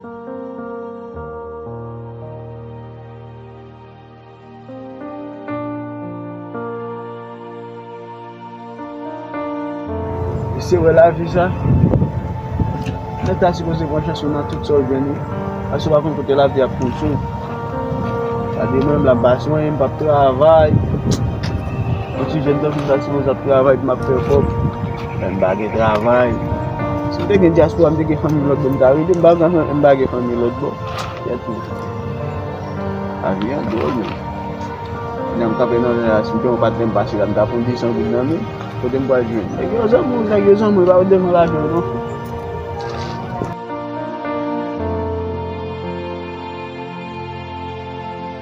Mesye wè la vi sa, lè ta si pwese pran chans ou nan tout sa ou gen nou, ase ou pa kon kote la vi ap pwese ou. Sa di mwen m la ba swen, m pap travay, yon ti jèn ta si pwese ap travay pou m ap fè kòb. M pa gen travay. Si m te gen dyaspora m te gen fanmi lòtbò m ta rete m pa gen fanmi m pa gen fanmi lòtbò kèt ou lavi an dwòl menm nan m kanpe nan ren a si m te yon patnè m pase la m ta pran 200 goud nan menm kote m pral jwenn nèg yo zanmi w nèg yo zanmi w epa yo t bezwen lajan w non.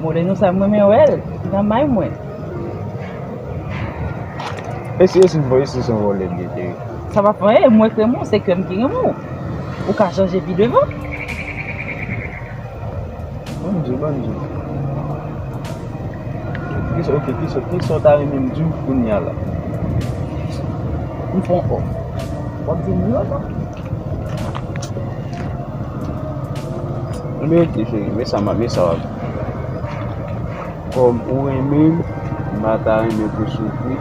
Moreno sa m renmen wèl nan may mwen. E si yo sin voye si son vole li ye cheri. Sa pa fè anyen mwen k renmen w se kè m ki renmen w ou ka chanje pi devan. Bon bgy bon bgy. Ok kisa w ta renmen m di w kounya la. M fon ok wap di m yo non. Anmeyy ti cheri men sa map men sa wap Kom ou renmen m m pa ta renmen pou soufri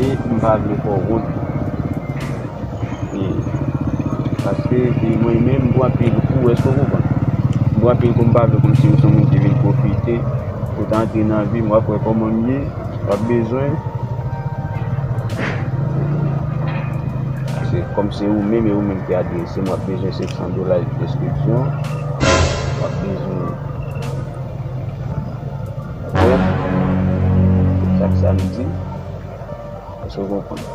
e m pa vle fè w wont e paske e mwen menm m pran pil kou eske w konprann m pran pil kou m pa vle kòmsi m son moun ki vin pwofite ou t antre nan vi m wap wè koman m ye. Wap bezwen Se kòm se ou menm e ou menm ki adrese m wap bezwen 500 dola e preskripsyon Wap bezwen Wèf Pou chak samdi Èske ou konprann?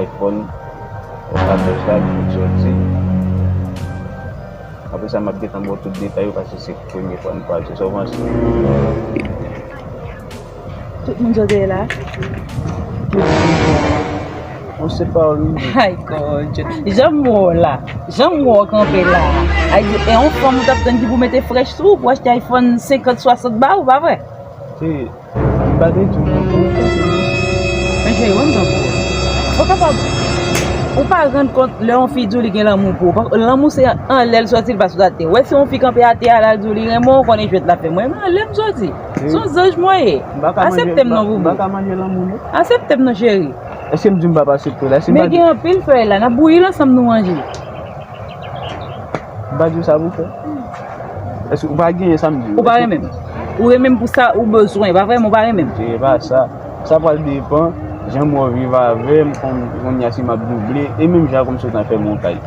Ayfòn Ou ka fè sa li fout soti Apre sa map gentan ba w tout detay yo paske se premye fwa nou pral sou Sovans. Tout moun jodha e la. Mwen se pa ou li. Hay god. Janm wè w la. Janm wè w kanpe la. E yon fanm ou tap tann ki pou mete frèch sou ou pou achte iPhone 50, 60 ba ou pa vre? E m pa te di w nan pou ou kanpe la. Men cheri banm tan pou ou. Ou kapab Ou pa rann kont lè yon fi di w li gen lanmou pou ou. Lanmou se anlè l soti l pa sou ate. Ou wè si yon fi kanpe ate a la l di w li renmen w konnen jwèt lap fè. Mwen renmen w anlè m soti. Son zanj mwen ye. Aseptem non boubou. Mbaka manje lanmou nou. Aseptem non cheri. Eske mdi mpa pa asepte la. Men gen anpil fèy la. Nap bouyil ansanm nou manje. Mpa diw sa pou fè. Eske ou pa genyen sa mdi. Ou pa renmenm. Ou renmenm pou sa ou bezwen. Epa vrem ou pa renmenm. Epa sa. Sa pral depan. Janm wè ou viv avèm. Konnya si map double. E menm jan konm sot nan fè montaj.